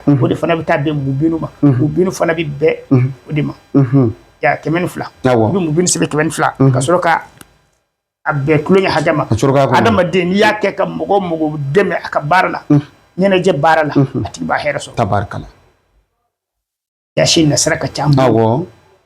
o de fana bɛ taa bɛn mubinu ma mubinu fana bɛ bɛn o de ma ya kɛmɛ ni fila i bɛ mubinu sɛbɛn kɛmɛ ni fila ka sɔrɔ ka a bɛɛ tulonkɛ hakɛ ma adamaden n'i y'a kɛ ka mɔgɔ mɔgɔ dɛmɛ a ka baara la ɲɛnajɛ baara la a tigi b'a hɛrɛ sɔrɔ tabarikala yasin asirari ka ca awɔ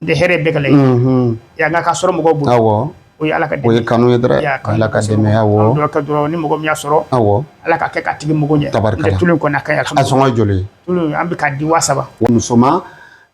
de hɛrɛ bɛɛ gɛlɛn yan nka ka sɔrɔ mɔgɔw bolo o ye ala ka o ye kanu ye dɔrɔn ala ka dɛmɛ awɔ dɔ kɛ dɔrɔn ni mɔgɔ min y'a sɔrɔ awɔ ala ka kɛ k'a tigi mako ɲɛ tabarikala tulu kɔni ka ɲi a sɔngɔ joli tulu an bɛ ka di wa saba musoman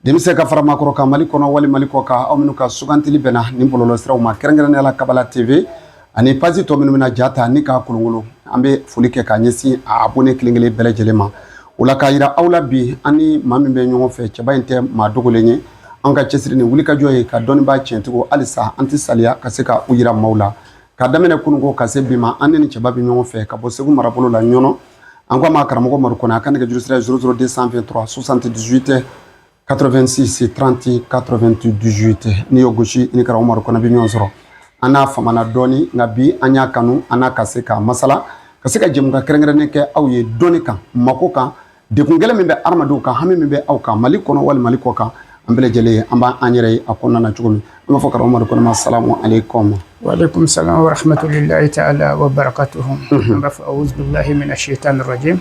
denmisɛn ka fara maakɔrɔ kan mali kɔnɔ wali mali kɔ kan aw minnu ka sugantili bɛnna nin bɔlɔlɔsiraw ma kɛrɛnkɛrɛnnenya la kabala tv ani page tɔ minnu bɛna ja ta ni k'a kolonkolon an bɛ foli kɛ k'a ɲɛsin a abonné kelen-kelen bɛɛ lajɛlen ma o la k'a jira aw la bi an ni maa min bɛ ɲɔgɔn fɛ cɛba in tɛ maa dogolen ye an ka cɛsiri ni wulikajɔ ye ka dɔnnibaa tiɲɛtigiw halisa an tɛ saliya ka se ka u jira maaw la ka daminɛ kununko ka se bi ma an ni nin cɛba bɛ ɲɔgɔn fɛ ka bɔ segu marabolo la ɲɔnɔ an ko a ma karamɔgɔ umaru kɔnɛ a ka nɛgɛjuru sira ye 00223 78 86 30 98 n'i y'o gosi i ni karamɔgɔ Umaru Kɔnɛ bɛ ɲɔgɔn sɔrɔ an n'a famana dɔɔni nka bi an y'a kanu an n'a ka se ka masala ka se ka jɛmukan kɛrɛnkɛrɛnnen kɛ aw ye dɔnni kan mako kan degun gɛlɛn min bɛ hadamadenw kan hami min bɛ aw kan Mali kɔnɔ walima Mali kɔ kan an bɛɛ lajɛlen an b'a an yɛrɛ ye a kɔnɔna na cogo min an b'a fɔ karamɔgɔ Umaru Kɔnɛ ma salamu aleyikɔmu. Wa aleyikumu salamu wa rahamatulahi taala wa barakatuhu an b'a fɔ awuzubilahi mina sitani rajimi.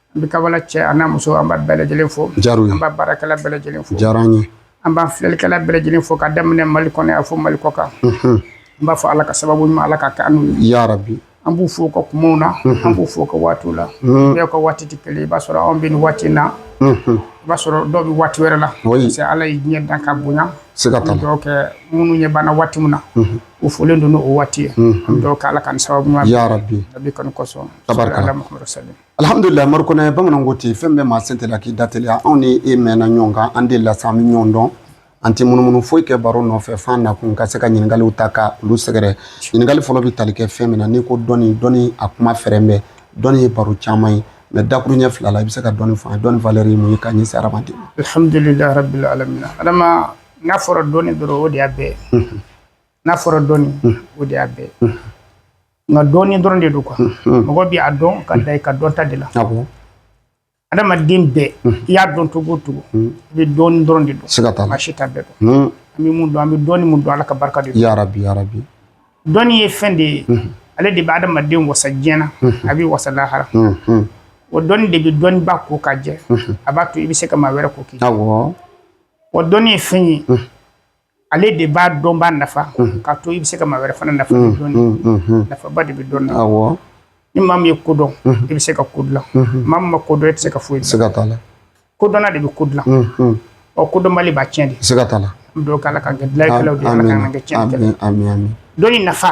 An bɛ Kabala cɛ a n'a muso an b'a bɛɛ lajɛlen fo. A diyara an ye. An b'a baarakɛla bɛɛ lajɛlen fo. A diyara an ye. An b'an filɛlikɛla bɛɛ lajɛlen fo k'a daminɛ Mali kɔnɔ yan fo Mali kɔkan. Unhun! An b'a fɔ Ala ka sababu ɲuman Ala k'a kɛ an n'u ye. Yarabi! An b'u fo u ka kumaw na. Unhun! An b'u fo u ka waatiw la. Unhun! Bɛɛ ka waati tɛ kelen ye. I b'a sɔrɔ anw bɛ nin waati in na. Unhun! I b'a sɔrɔ dɔw bɛ waati wɛrɛ la. Oui! Parce que Ala ye diɲɛ dan ka bonya. Siga t'a la. Donc minnu ɲɛ b'an na waati min na. Unhun! U folen don n'o waati ye. Unhun! An bɛ duwawu kɛ Ala k'an sababu ɲuman. Yarabi! Nabi kanu kosɔn. Tabarikala! Sɔli Ala Mahamadu Sali. Alihamdulila Umaru Kɔnɛ bamananw ko ten fɛn bɛɛ maa sen teliya k'i da teliya anw ni e mɛnna ɲɔgɔn kan an delila sa an bɛ ɲɔgɔn dɔn an tɛ munumunu foyi kɛ baro nɔfɛ f'an nakun ka se ka ɲininkaliw ta ka olu sɛgɛrɛ ɲininkali fɔlɔ bɛ tali kɛ fɛn min na n'i ko dɔnni dɔnni a kuma fɛrɛn bɛ dɔnni ye baro caman ye mais dakuru ɲɛ fila la i bɛ se ka dɔnni fɔ an ye dɔnni valeur ye mun ye k'a ɲɛsin hadamaden ma. Alihamudulila rabil alamina adama n'a fɔra dɔnni dɔrɔn o de y'a bɛɛ ye n'a fɔra dɔnni o de y'a bɛɛ ye. nka dɔɔnin dɔrɔn de don quoi mɔgɔ bɛ a dɔn ka dan i ka dɔnta de la adamaden bɛɛ i y'a dɔn cogo o cogo i bɛ dɔɔnin dɔrɔn de dɔn si t'a bɛɛ dɔn an bɛ mun dɔn an bɛ dɔɔnin min dɔn ala ka barika de yarabi dɔnni ye fɛn de ye ale de bɛ adamaden wasa diɲɛ na a bɛ wasa lahara o dɔnni de bɛ dɔnniba ko ka jɛ a b'a to i bɛ se ka maa wɛrɛ ko k'i wa dɔnni ye fɛn ye ale de b'a dɔnbaa nafa k'a to i bɛ se ka maa wɛrɛ fana nafa dɔnni nafaba de bɛ dɔnni na ni maa min ye ko dɔn i bɛ se ka ko dilan maa min ma ko dɔn i tɛ se ka foyi siga t'a la kodɔnna de bɛ ko dilan ɔ kodɔnbali b'a tiɲɛ de siga t'a la an bɛ k'ala k'an kɛ dilalikɛlaw de ye ala k'an kɛ tiɲɛ dɔnni nafa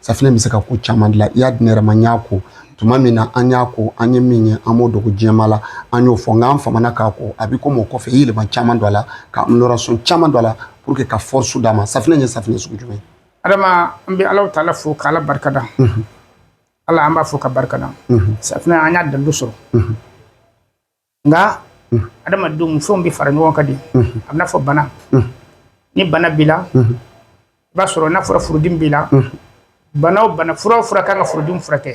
safinɛ bɛ se ka ko caman dilan i y'a di ne yɛrɛ ma n y'a ko tuma min na an y'a ko an ye min ye an m'o dogo jama la an y'o fɔ nka an fana k'a ko a bɛ ko mɔgɔ kɔfɛ i yɛlɛma caman don a la ka amélioration caman don a la pour que ka force d'a ma safinɛ ye safinɛ sugu jumɛn adama an bɛ ala taala fo k'ala barikada ala an b'a fo k'a barikada safinɛ an y'a dalu sɔrɔ nka adamadenw fɛnw bɛ fara ɲɔgɔn kan de a bɛna fɔ bana ni bana b'i la i b'a sɔrɔ n'a fɔra furudimi b'i la bana o bana fura o fura kan ka furudimi furakɛ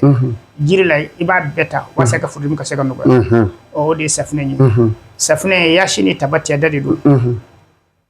jiri la i b'a bɛɛ ta walasa ka furudimi ka se ka nɔgɔya o de ye safunɛ ye safunɛ yasin ni tabati yada de don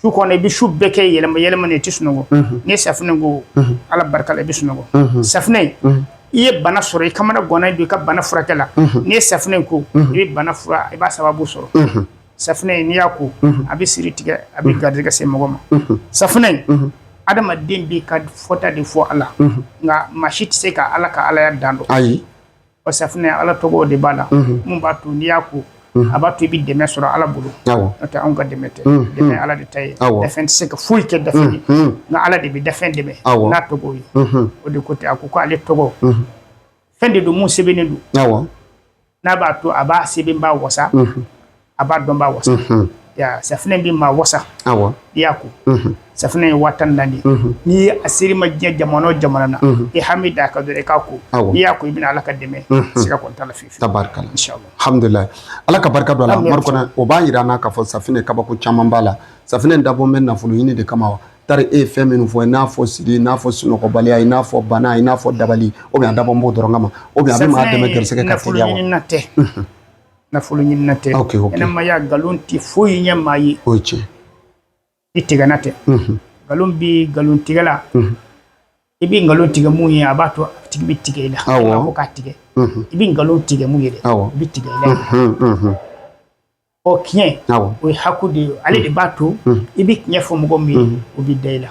su kɔnɔ i bɛ su bɛɛ kɛ yɛlɛma yɛlɛma na i tɛ sunɔgɔ n'i ye safunɛ ko ala barika la i bɛ sunɔgɔ safunɛ i ye bana sɔrɔ i kamana gannen don i ka bana furakɛ la n'i ye safunɛ ko i bɛ bana fura i b'a sababu sɔrɔ safunɛ n'i y'a ko a bɛ siri tigɛ a bɛ garijɛgɛ se mɔgɔ ma safunɛ adamaden b'i ka fɔta de fɔ a la nka maa si tɛ se ka ala ka alaya dan dɔn ayi o safunɛ ala tɔgɔ de b'a la min b'a to n'i y'a ko a b'a to i bɛ dɛmɛ sɔrɔ ala bolo n'o tɛ anw ka dɛmɛ tɛ dɛmɛ ye ala de ta ye dafɛn tɛ se ka foyi kɛ dafɛn ye nka ala de bɛ dafɛn dɛmɛ n'a tɔgɔ ye o de ko tɛ a ko ko ale tɔgɔ fɛn de don min sɛbɛnnen don n'a b'a to a b'a sɛbɛnbaa wasa a b'a dɔnbaa wasa safunɛ bɛ maa wasa i y'a ko safunɛ ye waa tan ni naani n'i ye a ser'i ma diɲɛ jamana o jamana na i hami da a kan dɔrɔn i k'a ko n'i y'a ko i bɛna ala ka dɛmɛ siga kɔni t'a la fiyewu tabarikala alhamdulilayi ala ka barika don a la Madu Kɔnɛ o b'a jira an na k'a fɔ safunɛ kabako caman b'a la safunɛ dabɔlen bɛ nafolo ɲini de kama wa tari e ye fɛn minnu fɔ n'a fɔ siri n'a fɔ sunɔgɔbaliya n'a fɔ bana n'a fɔ dabali ou bien a dabɔlen b'o dɔrɔn kama ou bien a bɛ maa dɛmɛ garijɛgɛ ka nafolo ɲinina tɛ ɲɛnamaya nkalon tɛ foyi ɲɛ maa ye o ye tiɲɛ i tigɛna tɛ nkalon bɛ nkalon tigɛla i bɛ nkalon tigɛ mun ye a b'a to a tigi bɛ tigɛ i la ko k'a tigɛ i bɛ nkalon tigɛ mun ye dɛ i bɛ tigɛ i la ɔ tiɲɛ o ye haku de ye ale de b'a to i bɛ tiɲɛ fɔ mɔgɔ min ye o bɛ da i la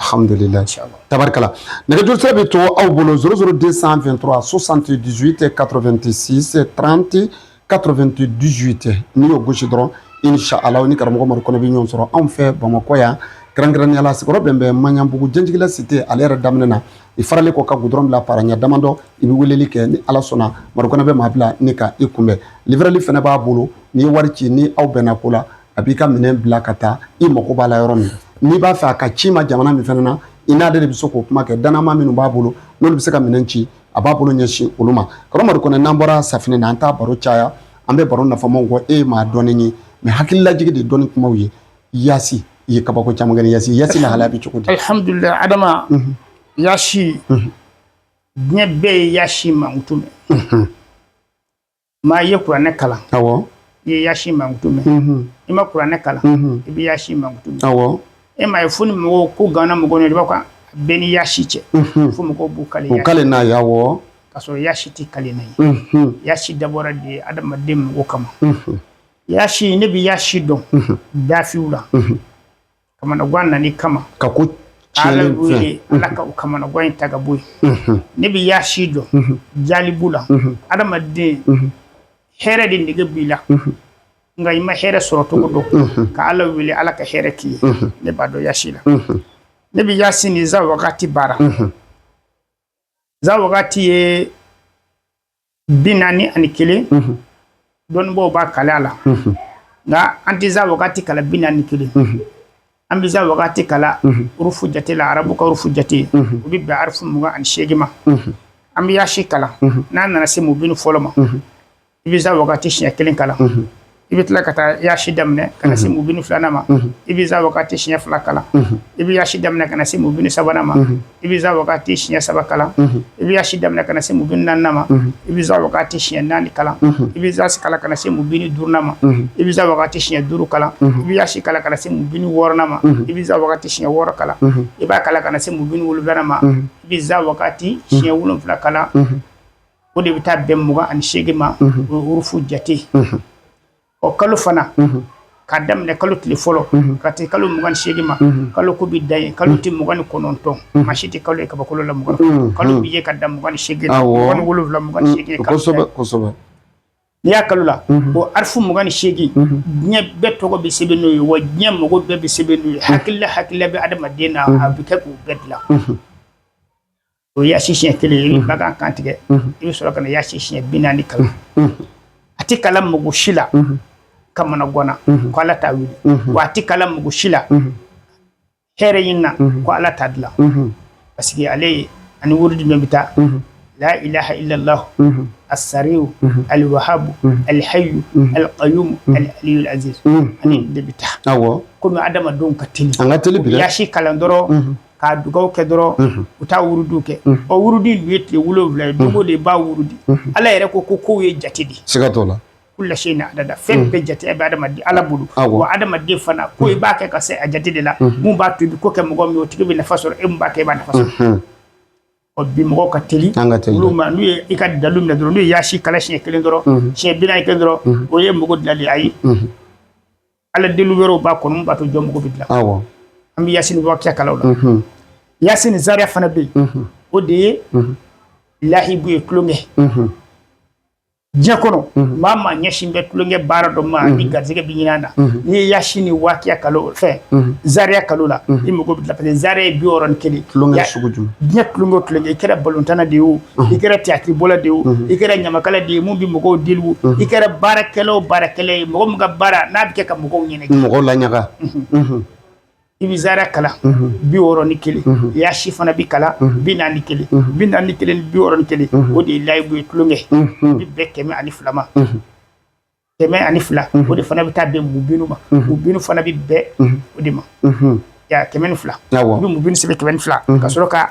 Hamdulila tabarikala nɛgɛjuru sira bɛ to aw bolo 00 223 78 86 30 98 n'i y'o gosi dɔrɔn incha Allah aw ni karamɔgɔ Madu Kɔnɛ bɛ ɲɔgɔn sɔrɔ anw fɛ Bamakɔ yan kɛrɛnkɛrɛnnenya la sigiyɔrɔ bɛn bɛ Maɲanbugu Janjigila cité ale yɛrɛ daminɛ na i faralen kɔ ka goudron bila para ɲɛ damadɔ i bɛ weleli kɛ ni Ala sɔnna Madu Kɔnɛ bɛ maa bila ni ka i kunbɛn livreli fana b'a bolo n'i ye wari ci ni aw bɛnna ko la a b'i ka minɛn bila ka taa i mago b'a la yɔrɔ min n'i b'a fɛ a ka ci i ma jamana min fana na i n'ale de bɛ se k'o kuma kɛ dannamaa minnu b'a bolo n'olu bɛ se ka minɛn ci a b'a bolo ɲɛsin olu ma karamɔgɔ kɔnɛ n'an bɔra safinɛ na an t'a baro caya an bɛ baro nafamaw kɔ e ye maa dɔnnen ye mais hakililajigin de dɔnni kumaw ye yasi i ye kabako caman kɛ yasi yasi lahalaya bɛ cogo di alihamudulila adama mhm. yasi mhm. diɲɛ bɛɛ ye yasi mankutu mɛn mhm. Maa i ye kuranɛ kalan i ye yasi mankutu mɛn i ma kuranɛ kalan i bɛ yasi mankutu mɛn e m'a ye fo ni mɔgɔw ko gana mɔgɔ i b'a kan bɛn ni yasi cɛ fo mɔgɔw b'u kale n'a ye ka sɔrɔ yasi tɛ kalenan ye yasi dabɔra de adamaden magow kama yasi ne bɛ yasi dɔn dafiw la kamanagan nani kama ka ko ala wele ala ka o kamanagan in ta ka bɔ yen ne bɛ yasi dɔn jalibu la adamaden hɛrɛ de nege b'i la nka i ma hɛrɛ sɔrɔ cogo dɔn ka ala wele ala ka hɛrɛ k'i ye ne b'a dɔn yasi la ne bɛ yasi ni za wagati baara za wagati ye bi naani ani kelen dɔnnibaaw b'a kalan a la nka an tɛ za wagati kalan bi naani kelen an bɛ za wagati kalan urufu jate la arabu ka urufu jate o bɛ bɛn arifu mugan ani seegin ma an bɛ yaasi kalan n'an nana se mubini fɔlɔ ma i bɛ za wagati siɲɛ kelen kalan i bɛ tila ka taa yaasi daminɛ ka na se mubini filanan ma i bɛ za wagati siɲɛ fila kalan i bɛ yaasi daminɛ ka na se mubini sabanan ma i bɛ za wagati siɲɛ saba kalan i bɛ yaasi daminɛ ka na se mubini naaninan ma i bɛ za wagati siɲɛ naani kalan i bɛ yaasi kalan ka na se mubini duurunan ma i bɛ za wagati siɲɛ duuru kalan i bɛ yaasi kalan ka na se mubini wɔɔrɔnan ma i bɛ za wagati siɲɛ wɔɔrɔ kalan i b'a kalan ka na se mubini wolonwulanan ma i bɛ za wagati siɲɛ wolonwula kalan o de bɛ taa bɛn mugan ani seegin ma urufu jate ɔ kalo fana k'a daminɛ kalo tile fɔlɔ ka taa kalo mugan seegin ma kalo ko bɛ dan yen kalo tile mugan ni kɔnɔntɔn maa si tɛ kalo ye kabakolo la mugan kalo bɛ ye ka dan mugan seegin wolonwula mugan seegin kalo n'i y'a kalo la o arifu mugan ni seegin diɲɛ bɛɛ tɔgɔ bɛ sɛbɛn n'o ye wa diɲɛ mɔgɔ bɛɛ bɛ sɛbɛn n'o ye hakilila hakilila bɛ adamaden na a bɛ kɛ k'u bɛɛ dilan o ye yasi siɲɛ kelen ye ba kan kan tigɛ i bɛ sɔrɔ ka na yasi siɲɛ bi naani kalan a tɛ kalan mɔgɔ si la kamanagan na ko ala t'a wuli wa a tɛ kalan mɔgɔ si la hɛrɛ in na ko ala t'a dilan parce que ale ye ani wurudi min bɛ taa la ilaha illallah asariw aliwahabu alihayu alqayum alaliyul aziz ani de bɛ taa komi adamadenw ka teli an ka teli bi yasi kalan dɔrɔn k'a dugaw kɛ dɔrɔn u taa wurudu kɛ o wurudu in ye tile wolowula ye dogo de b'a wurudi ala yɛrɛ ko ko k'o ye jate de siga t'o la kula sayi in adada fɛn bɛɛ jate bɛ adamaden ala bolo wa adamaden fana ko i b'a kɛ ka se a jate de la mun b'a to i bɛ ko kɛ mɔgɔ min o tigi bɛ nafa sɔrɔ e b'a kɛ i b'a nafa sɔrɔ ɔ bi mɔgɔw ka teli an ka teli olu ma n'u ye i ka dalu minɛ dɔrɔn n'u ye yaasi kalan siɲɛ kelen dɔrɔn siɲɛ bi naani kelen dɔrɔn o ye mago dilan ayi ala deli wɛrɛw b'a kɔnɔ min b'a to jɔn mago bɛ dilan awɔ an bɛ yasini wakiya kalan o la mhm. yasini zaria fana bɛ yen mhm. o de ye mhm. lahibu ye tulonkɛ diɲɛ kɔnɔ maa maa ɲɛsin bɛ tulonkɛ baara dɔ ma n'i garisɛgɛ bɛ ɲinan na n'i ye yasini wakiya kalan fɛn zaria kalan o la i mago bɛ dilan parce que zaria ye bi wɔɔrɔ ni kelen tulonkɛ sugu jumɛn diɲɛ tulonkɛ o tulonkɛ i kɛra balɔntanna de ye o i kɛra tiyatiribɔla de i kɛra ɲamakala de ye min bɛ mɔgɔw deli i kɛra baarakɛla o baarakɛla ye mɔgɔ min ka baara n'a bɛ kɛ ka mɔgɔw ɲini mɔgɔ laɲaga i bɛ zaria kalan bi wɔɔrɔ ni kelen yasi fana bɛ kalan bi naani kelen bi naani kelen ni bi wɔɔrɔ ni kelen o de ye layibu ye tulonkɛ bɛ bɛn kɛmɛ ani fila ma kɛmɛ ani fila o de fana bɛ taa bɛn mubinu ma mubinu fana bɛ bɛn o de ma kɛmɛ ni fila i bɛ mubinu sɛbɛn kɛmɛ ni fila ka sɔrɔ ka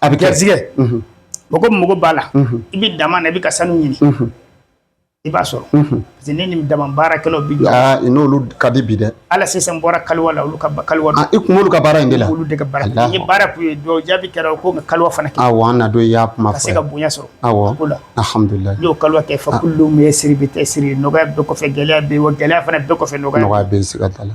A bɛ garijɛgɛ mɔgɔ mɔgɔ b'a la i bɛ daman na i bɛ ka sanu ɲini i b'a sɔrɔ parce ne ni daman baarakɛlaw bi n'olu ka di bi dɛ hali sisan n bɔra kaliwa la olu ka kaliwa n kun b'olu ka baara in de la olu de ka baara la ni baara tun ye jaabi kɛra o ko ka kaliwa fana na don i y'a kuma se ka bonya sɔrɔ ko alhamdulilahi n y'o kaliwa kɛ fa ye siri bɛ tɛ siri nɔgɔya bɛɛ kɔfɛ gɛlɛya bɛ gɛlɛya fana bɛɛ kɔfɛ nɔgɔya bɛ siga t'a la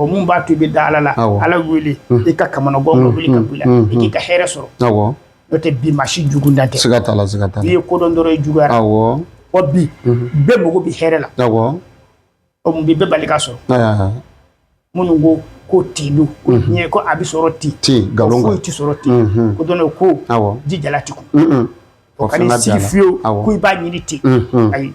O mun b'a to i bɛ da ala la ala wele i ka kamanaganko wuli ka bila i k'i ka hɛrɛ sɔrɔ n'o tɛ bi maa si jugu dan tɛ siga t'a la i ye ko dɔn dɔrɔn i juguyara wa bi bɛɛ mako bɛ hɛrɛ la mun bɛ bɛɛ bali k'a sɔrɔ muɲu ko ko tin don ko diɲɛ ko a bɛ sɔrɔ ten ten nkalon ko tɛ sɔrɔ ten ko dɔn ko ji jalati kun o ka sigi fiyewu ko i b'a ɲini ten ayi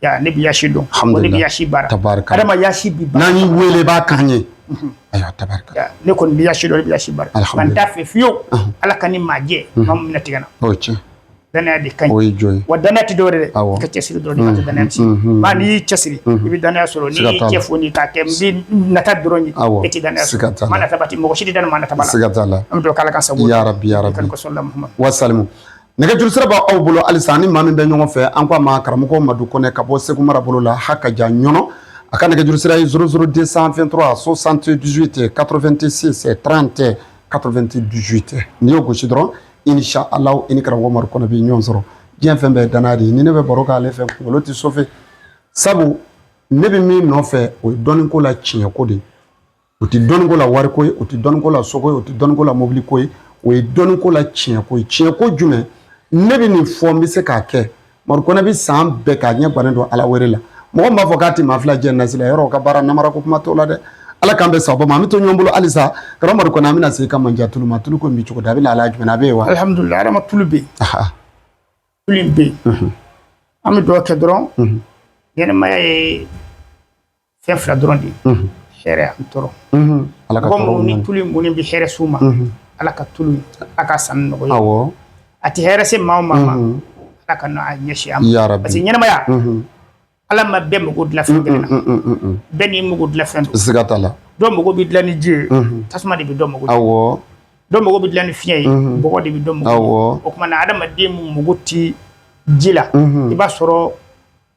Ya ne bɛ yasi dɔn. Alhamdulilahi. Ne bɛ yasi baara. Tabarikala. Adama yasi bi baara. N'an y'i wele i b'a k'an ye. Unhun. Ayiwa tabarikala. Ya ne kɔni bɛ yasi dɔn ne bɛ yasi baara. Alhamdulilahi. Nka n t'a fɛ fiyewu. Unhun. Ala ka n ni maa jɛ. Unhun. Maa min bɛna tigɛ n na. O ye tiɲɛ. Danaya de ka ɲi. O ye jɔn ye. Wa danaya tɛ dɔwɛrɛ dɛ. Awɔ. I k'i cɛsiri dɔrɔn de ka to danaya tiɲɛ. Unhun. Maa n'i y'i cɛsiri. Unhun. I bɛ danaya sɔrɔ. Siga t'a la. N'i y'i cɛ foni k'a kɛ n bɛ nata dɔrɔn ye. Awɔ. E tɛ danaya sɔrɔ. Siga t'a la. Maa nataba tɛ mɔgɔ si tɛ da maa nataba la. Siga t'a la. An bɛ dugawu kɛ Ala k'a sago. Yarabi yarabi. Wa salalahu ala Muhamadu. Wa salimu. Nɛgɛjuru sira b'aw bolo halisa ni maa min bɛ ɲɔgɔn fɛ an ko a ma karamɔgɔ madu kɔnɛ ka bɔ segu mara bolo la hakaja ɲɔnɔ a ka nɛgɛjuru sira ye zéro zéro deux cent vingt-trois soixante-dix-huit quatre-vingt-six trente quatre-vingt-dix-huit n'i y'o gosi dɔrɔn inisa ala i ni karamɔgɔ madu kɔnɛ bɛ ɲɔgɔn sɔrɔ diɲɛ fɛn bɛɛ ye danaya de ye ni ne bɛ baro k'ale fɛ kunkolo tɛ sofɛ sabu ne bɛ min nɔfɛ o ye dɔnniko la tiɲɛko de ye o tɛ dɔnniko la wariko ye o tɛ dɔnniko la soko ye o tɛ dɔnniko la mobiliko ye o ye dɔnniko la tiɲɛko ye tiɲɛko jumɛn ne bɛ nin fɔ n bɛ se k'a kɛ madu kɔnɛ bɛ san bɛɛ k'a ɲɛ gannen don ala wɛrɛ la mɔgɔ b'a fɔ k'a tɛ maa fila jɛ nasira yɔrɔ ka baara namara ko kuma t'o la dɛ ala k'an bɛn sababu ma an bɛ to ɲɔgɔn bolo halisa karamɔgɔ madu kɔnɛ an bɛna se ka mandiya tulu ma tulu ko bɛ cogo di a bɛ lahala jumɛn a bɛ yen wa alihamudulila adama tulu bɛ yen tulu in bɛ yen an bɛ dugawu kɛ dɔrɔn ɲɛnɛmaya ye fɛn fila dɔrɔn de ye hɛrɛ ani tɔɔrɔ mɔgɔ minnu ni tulu mun bɛ hɛrɛ s'u ma ala ka tulu ala ka sanni nɔgɔya awɔ a tɛ hɛrɛ se maa o maa ma ala kan'a ɲɛsin a ma parce que ɲɛnɛmaya ala ma bɛɛ mago dilan fɛn kelen na bɛɛ n'i mago dilan fɛn don siga t'a la dɔ mago bɛ dilan ni ji ye tasuma de bɛ dɔ mago dilan awɔ dɔ mago bɛ dilan ni fiɲɛ ye bɔgɔ de bɛ dɔ mago dilan awɔ o tuma na adamaden min mago ti ji la i b'a sɔrɔ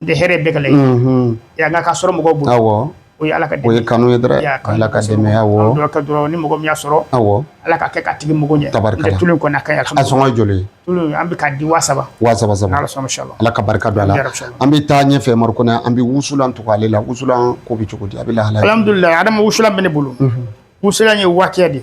de hɛrɛ bɛɛ ka laɲini nka k'a sɔrɔ mɔgɔw bolo o ye ala ka kanu ye dɔrɔn ala ka dɛmɛ ye dɔrɔn ni mɔgɔ min y'a sɔrɔ awɔ ala k'a kɛ k'a tigi mago ɲɛ tari tulu kɔni a sɔngɔ ye joli ye an bɛ k'a di wa saba wa saba ala ka barika don a la an bɛ taa ɲɛfɛ madu kɔnɛ an bɛ wusulan tugu ale la wusulan ko bɛ cogo di a bɛ lahala alhamdulilayi adama wusulan bɛ ne bolo wusulan ye wakiya de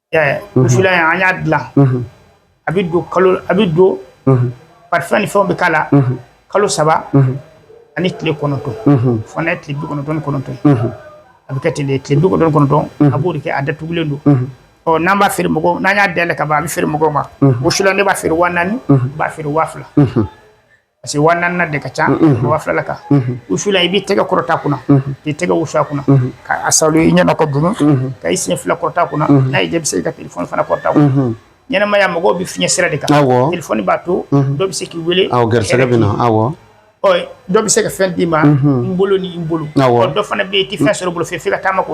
an y'a dilan a bɛ don kalo a bɛ don parfum ni fɛnw bɛ k'a la kalo saba ani tile kɔnɔntɔn fo n'a ye tile bi kɔnɔntɔn ni kɔnɔntɔn a bɛ kɛ ten de tile bi kɔnɔntɔn ni kɔnɔntɔn a b'o de kɛ a datugulen don ɔ n'an b'a feere mɔgɔw n'an y'a dayɛlɛ ka ban a bɛ feere mɔgɔw ma wusulan ne b'a feere wa naani n b'a feere wa fila parce que wa naanina de ka ca wa filala kan wusulan i b'i tɛgɛ kɔrɔta a kunna k'i tɛgɛ wusu a kunna ka a salo i ɲɛna ka dunu ka i sen fila kɔrɔta a kunna n'a y'i diya i bɛ se k'i ka telefɔni fana kɔrɔta a kunna ɲɛnamaya mɔgɔw bɛ fiɲɛ sira de kan Awɔ. telefɔni b'a to dɔ bɛ se k'i wele awɔ garisɛgɛ bɛ na awɔ ɔ dɔ bɛ se ka fɛn d'i ma n bolo ni n bolo Awɔ. ɔ dɔ fana bɛ yen i tɛ fɛn sɔrɔ i bolo fɛ f'i ka taama k'o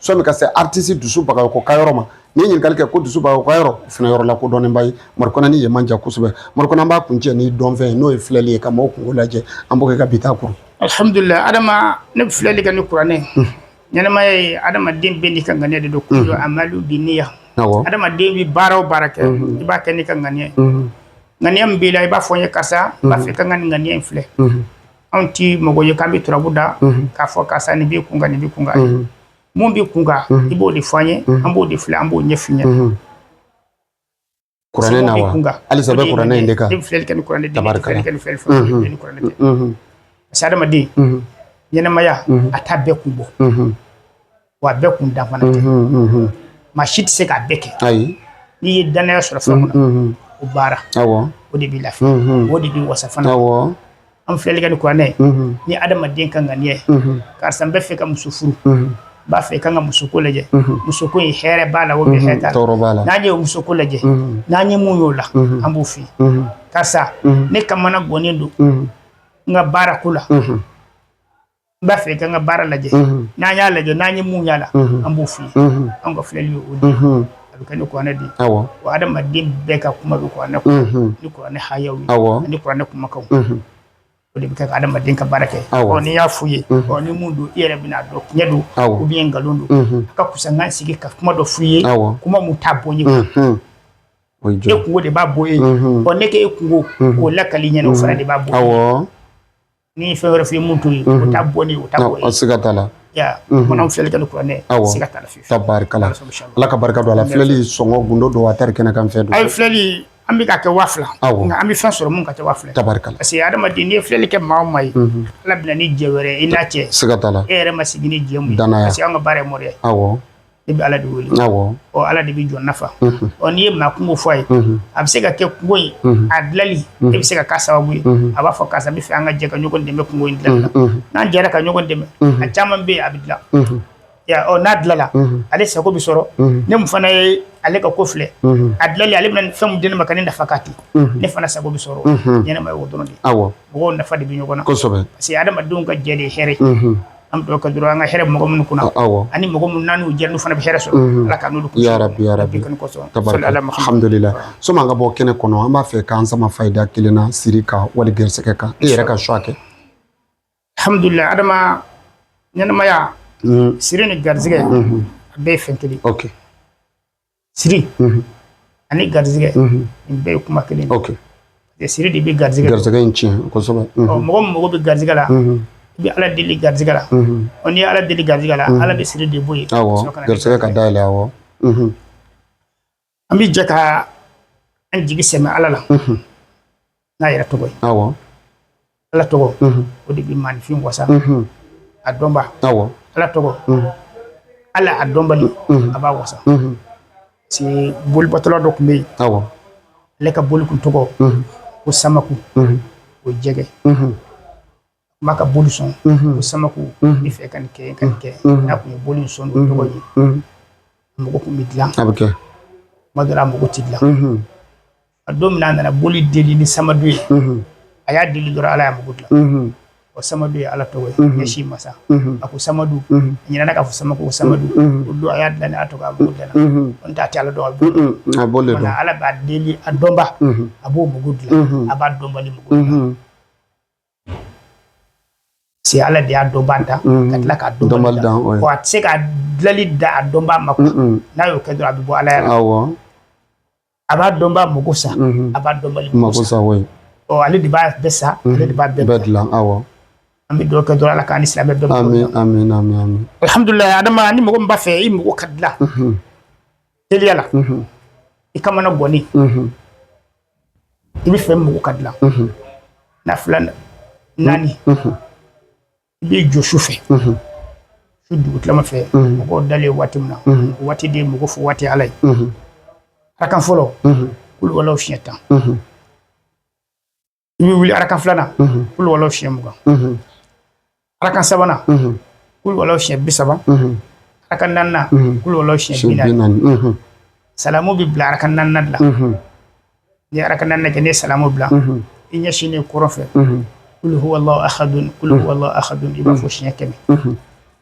sɔmi ka se aritisi dusu bagayoko ka yɔrɔ ma n'i ye ɲininkali kɛ ko dusu bagayoko ka yɔrɔ o fana yɔrɔ lakodɔnnenba ye madu kɔnɛ ni yen man jan kosɛbɛ madu kɔnɛ an b'a kuncɛ ni dɔnfɛn ye n'o ye filɛli ye ka maaw kunko lajɛ an b'o kɛ ka bi ta kuru alhamdulilayi adama ne bɛ filɛli kɛ ni kuranɛ hmm. ɲɛnamaya ye adamaden bɛɛ n'i ka ŋaniya de don hmm. kullu amalu binniya adamaden bɛ baara o baara kɛ hmm. i b'a kɛ n'i ka ŋaniya ye ŋaniya min b'i la i b'a fɔ n ye karisa n b'a fɛ ka n ka nin ŋaniya in filɛ anw tɛ mɔgɔ ye k'an bɛ turabu da k'a fɔ karisa nin b'i kun kan nin b'i kun kan mun b'i kun kan i b'o de fɔ an ye an b'o de filɛ an b'o ɲɛf'i ɲɛna kuranɛ na wa halisa an bɛ kuranɛ in de kan ne bɛ filɛli kɛ ni kuranɛ de ye ne tɛ filɛli kɛ ni fɛn fɛn ye ni kuranɛ tɛ parce que adamaden ɲɛnɛmaya a t'a bɛɛ kun bɔ wa a bɛɛ kun dan fana tɛ maa si tɛ se k'a bɛɛ kɛ ayi n'i ye danaya sɔrɔ fɛn mun na o baara awɔ o de b'i lafiya o de b'i wasa fana awɔ an filɛli kɛ ni kuranɛ ye ni adamaden ka ŋaniya ye karisa n b'a fɛ ka muso furu n b'a fɛ i ka n ka musoko lajɛ musoko in hɛrɛ b'a la ou bien hɛrɛ t'a la tɔɔrɔ b'a la n'an ye o musoko lajɛ n'an ye mun y'o la an b'o f'i ye karisa ne kamanagannen don n ka baarako la n b'a fɛ i ka n ka baara lajɛ n'an y'a lajɛ n'an ye mun y'a la an b'o f'i ye an ka filɛli ye o de a bɛ kɛ ni kuranɛ de ye wa adamaden bɛɛ ka kuma bɛ kuranɛ kɔnɔ ni kuranɛ hayaw ye ani kuranɛ kumakanw o de bɛ kɛ ka adamaden ka baara kɛ ɔ n'i y'a f'u ye ɔ ni mun don i yɛrɛ bɛn'a dɔn tiɲɛ don ou bien nkalon don a ka kusa n ka sigi ka kuma dɔ f'u ye kuma mun t'a bɔ ye e kungo de b'a bɔ ye ɔ ne k'e kungo k'o lakali ɲɛna o fana de b'a bɔ ni fɛn wɛrɛ f'i ye mun t'o ye o t'a bɔ ni o t'a bɔ ye siga t'a la mana filɛli kɛ ni kuranɛ siga t'a la fiyewu tabarikala ala ka barika don a la filɛli sɔngɔ gundo don wa tari kɛnɛ kan fɛn don ayi filɛli an bɛ k'a kɛ waa fila nka an bɛ fɛn sɔrɔ mun ka kɛ waa fila tabarikala parce que adamaden n'i ye filɛli kɛ maa o maa ye ala bɛ na ni jɛ wɛrɛ i n'a cɛ siga t'a la e yɛrɛ ma sigi ni jɛ mun ye parce que an ka baara ye mɔriya ye awɔ ne bɛ ala de wele ɔ ala de bɛ jɔn nafa ɔ n'i ye maa kungo fɔ a ye a bɛ se ka kɛ kungo ye a dilanli e bɛ se ka k'a sababu ye a b'a fɔ karisa n b'a fɛ an ka jɛ ka ɲɔgɔn dɛmɛ kungo in dilanli la n'an jɛra ka ɲɔgɔn dɛmɛ a caman bɛ yen a bɛ dilan ɔ n'a dilanla ale sago bɛ sɔrɔ ne mun fana ye ale ka ko filɛ a dilanli ale bɛna fɛn mun di ne ma ka ne nafa ka ten ne fana sago bɛ sɔrɔ ɲɛnama ye o dɔrɔn de mɔgɔw nafa de bɛ ɲɔgɔn na parce que adamadenw ka jɛ de hɛrɛ an bɛ ka dɔrɔn an ka hɛrɛ mɔgɔ minnu kunna ani mɔgɔ minnu n'u jɛ n'u fana bɛ hɛrɛ sɔrɔ ala ka n'olu bihamdulila sani an ka bɔ kɛnɛ kɔnɔ an b'a fɛ k'an sama fayida kelen na siri kan wali garisɛgɛ kan e yɛrɛ ka choix kɛ hamdulila adama ɲɛnɛmaya siri ni garisɛgɛ a bɛɛ ye fɛn kelen siri ani garizigɛ nin bɛɛ ye kuma kelen ye siri de bɛ garizigɛ garizigɛ in tiɲɛ kosɛbɛ mɔgɔ min mago bɛ garizigɛ la i bɛ ala deli garizigɛ la ɔ n'i ye ala deli garizigɛ la ala bɛ siri de bɔ yen garizigɛ ka dayɛlɛ awɔ an bɛ jɛ ka an jigi sɛmɛ ala la n'a yɛrɛ tɔgɔ ye ala tɔgɔ mhm. o de bɛ maaninfin wasa mhm. a dɔnba ala tɔgɔ mhm. ala a dɔnbali a b'a wasa parce bolibatola dɔ tun bɛ yen ale ka boli tun tɔgɔ ko samaku o jɛgɛ kuma ka boli sɔn ko samaku ne fɛ ka nin kɛ ka nin kɛ n'a tun ye boli sɔn n'o tɔgɔ ye mako tun bɛ dilan a bɛ kɛ tuma dɔ la a mako tɛ dilan a don min a nana boli deli ni samadu ye a y'a deli dɔrɔn ala y'a mako dilan o samadu ye ala tɔgɔ ye ɲɛsin masa a ko samadu a ɲinɛna k'a fɔ samaku ko samadu o don a y'a deli ni a tɔgɔ a mako dilan n'o t'a tɛ ala dɔn a bolo ala b'a deli a dɔnba a b'o mako dilan a b'a dɔnbali mako dilan c'est ala de y'a dɔnba da mm. ka tila k'a dɔnbali da a tɛ se ka dilali dan a dɔnba ma n'a y'o kɛ dɔrɔn a bɛ bɔ alaya la a b'a dɔnba mako sa mm-hmm. a b'a dɔnbali mako sa ɔ ale de b'a bɛɛ sa mm-hmm. ale de b'a bɛɛ dilan an bɛ dugaw kɛ dɔrɔn ala k'an ni silamɛ bɛɛ amin amin amin alhamdulilayi adama ni mɔgɔ min b'a fɛ i mako ka dilan mm-hmm. teliya la i kamana gannen i b'a fɛ i mako ka dilan nafila naani i b'i jɔ su fɛ su dugutilama fɛ mɔgɔw dalen waati min na waati de mako fɔ waati ala ye arakan fɔlɔ kulu walaw siɲɛ tan i bɛ wuli arakan filanan kulu walaw siɲɛ mugan arakan sabanan kulu walaw siɲɛ bi saba arakan naaninan kulu walaw siɲɛ bi naani salamu bɛ bila arakan naaninan de la ni arakan naaninan kɛ n'i ye salamu bila i ɲɛsinnen kɔrɔn fɛ kulu huwalahu ahadun kulu huwalahu ahadun i b'a fɔ siɲɛ kɛmɛ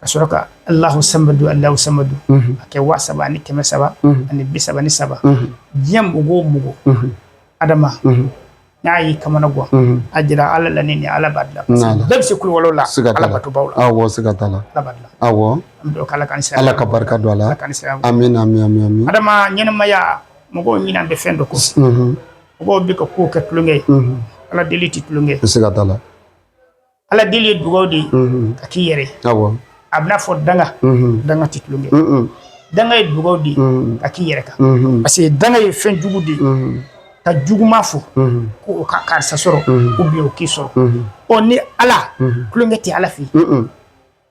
ka sɔrɔ ka alahu samadu alahu samadu a kɛ waa saba ani kɛmɛ saba ani bi saba ni saba diɲɛ mako o mako adama n'a y'i kamana gan a jira ala la ni ala b'a dilan bɛɛ bɛ se kulu walaw la ala batobaw la awɔ siga t'a la ala b'a dilan awɔ an bɛ ala ka saya ala ka barika don a la ala ka saya amin amin amin amin adama ɲɛnamaya mɔgɔw ɲinɛnen bɛ fɛn dɔ kɔ mɔgɔw bɛ ka kow kɛ tulonkɛ ye ala deli tɛ tulonkɛ siga t'a la ala deli ye dugaw de ye ka k'i yɛrɛ a b'i n'a fɔ danga danga tɛ tulonkɛ danga ye dugaw de ye ka k'i yɛrɛ kan parce que danga ye fɛn jugu de ye ka juguma fɔ ko o ka karisa sɔrɔ ou bien o k'i sɔrɔ ɔ ni ala tulonkɛ tɛ ala fɛ yen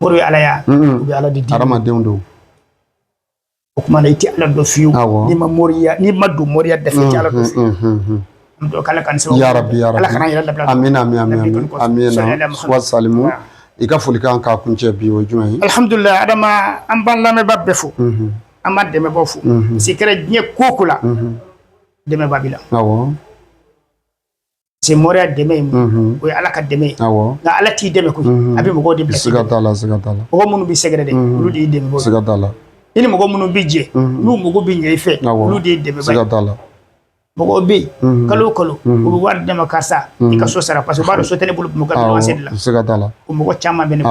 Mori ye ala y'a u bɛ ala deli adamadenw don o kuma i tɛ ala dɔn fiyewu n'i ma moriya n'i ma don moriya dɔ ala k'an sɔn ya rabi amin amin wa salimu i ka foli kan ka kuncɛ bi o jumɛn alihamdulila adama an b'an lamɛnba bɛɛ fo an b'an dɛmɛbaw fo si kɛra diɲɛ ko o ko la dɛmɛba b'i la se moriya dɛmɛ ye o ye ala ka dɛmɛ ye awo nka ala t'i dɛmɛ koyi a bɛ mɔgɔ de bila sira siga t'a la mɔgɔ minnu b'i sɛgɛrɛ de olu de y'i dɛmɛbaa siga t'a la i ni mɔgɔ minnu bɛ jɛ olu mɔgɔ bɛ ɲɛ i fɛ olu de y'i dɛmɛbaa siga t'a la mɔgɔ bɛ yen kalo kalo u bɛ wari d'i ma ka sa i ka so sara parce que b'a dɔn so tɛ ne bolo ka la siga t'a la o mɔgɔ caman bɛ ne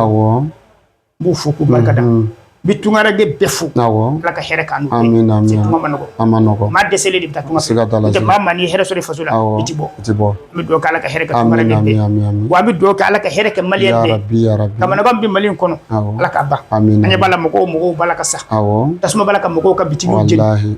n b'u fo k'u barikada n bɛ tunkaranke bɛɛ fo awo ala ka hɛrɛ k'an n'u a man nɔgɔ a man nɔgɔ maa dɛsɛlen de bɛ taa tunga siga t'a la n'o tɛ maa maa n'i hɛrɛ sɔrɔ i faso la i tɛ bɔ i tɛ bɔ n bɛ dugawu kɛ ala ka hɛrɛ kɛ tunkaranke bɛɛ ye wa an bɛ dugawu kɛ ala ka hɛrɛ kɛ maliyɛn bɛɛ ye kamanagan min bɛ Mali in kɔnɔ ala k'a ban an ɲɛ b'a la mɔgɔw mɔgɔw b'a la ka sa awo tasuma b'a la ka mɔgɔw ka bitikiw jeni.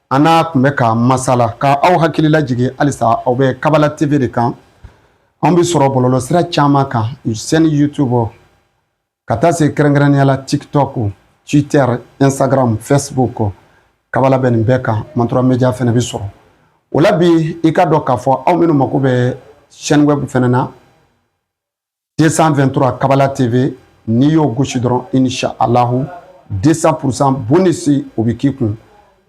An n'a tun bɛ ka masala k' aw hakilila jigin halisa aw bɛ kabala tv de kan an bɛ sɔrɔ bɔlɔlɔ sira caman kan sani youtube ka taa se kɛrɛnkɛrɛnnenya la tiktok twitter instagram facebook kabala bɛ nin bɛɛ kan matura media fɛnɛ bɛ sɔrɔ o la bi i k'a dɔn k'a fɔ aw minnu mako bɛ chaîne web fɛnɛ na 223 kabala tv n'i y'o gosi dɔrɔn inshallahu 200 pourcent bonus o bɛ k'i kun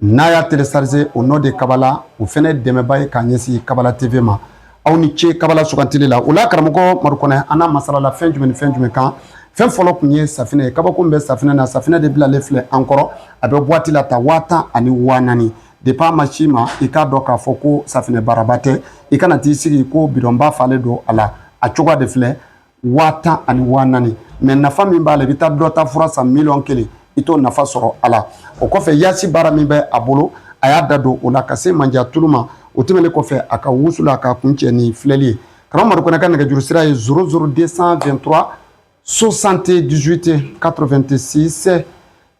n'a y'a télécharger au nom de kabala o fɛnɛ dɛmɛba ye k'a ɲɛsin kabala tv ma aw ni ce kabala sugantili la o la karamɔgɔ madu kɔnɛ an n'a masalala fɛn jumɛn ni fɛn jumɛn kan fɛn fɔlɔ tun ye safinɛ ye kabako min bɛ safinɛ na safinɛ de bilalen filɛ an kɔrɔ a bɛ boite la ta waa tan ani waa naani De b'a ma si ma i k'a dɔn k'a fɔ ko safinɛ baraba tɛ i kana t'i sigi ko bidɔnba falenlen don a la a cogoya de filɛ waa tan ani waa naani mais nafa min b'a la i bɛ taa dɔ ta fura san miliyɔn kelen i t'o nafa sɔrɔ a la o kɔfɛ yasi baara min bɛ a bolo a y'a da don o la ka se manja tulu ma o tɛmɛnen kɔfɛ a ka wusulan a k'a kuncɛ ni filɛli ye karamɔgɔ madu kɔnɛ ka nɛgɛjuru sira ye 00 223 78 86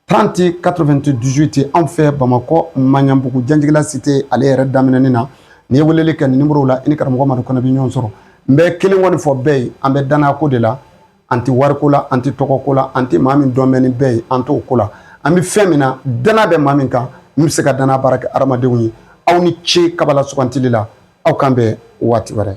30 98 ye anw fɛ bamakɔ maɲanbugu janjigila cité ale yɛrɛ daminɛni na n'i ye weleli kɛ nin nimoro la i ni karamɔgɔ madu kɔnɛ bɛ ɲɔgɔn sɔrɔ n bɛ kelen kɔni fɔ bɛɛ ye an bɛ danako de la an tɛ wariko la an tɛ tɔgɔko la an tɛ maa min dɔn bɛ ni bɛɛ ye an t'o ko la an bɛ fɛn min na dana bɛ maa min kan min bɛ se ka dana baara kɛ hadamadenw ye aw ni ce kabala sugantili la aw k'an bɛn waati wɛrɛ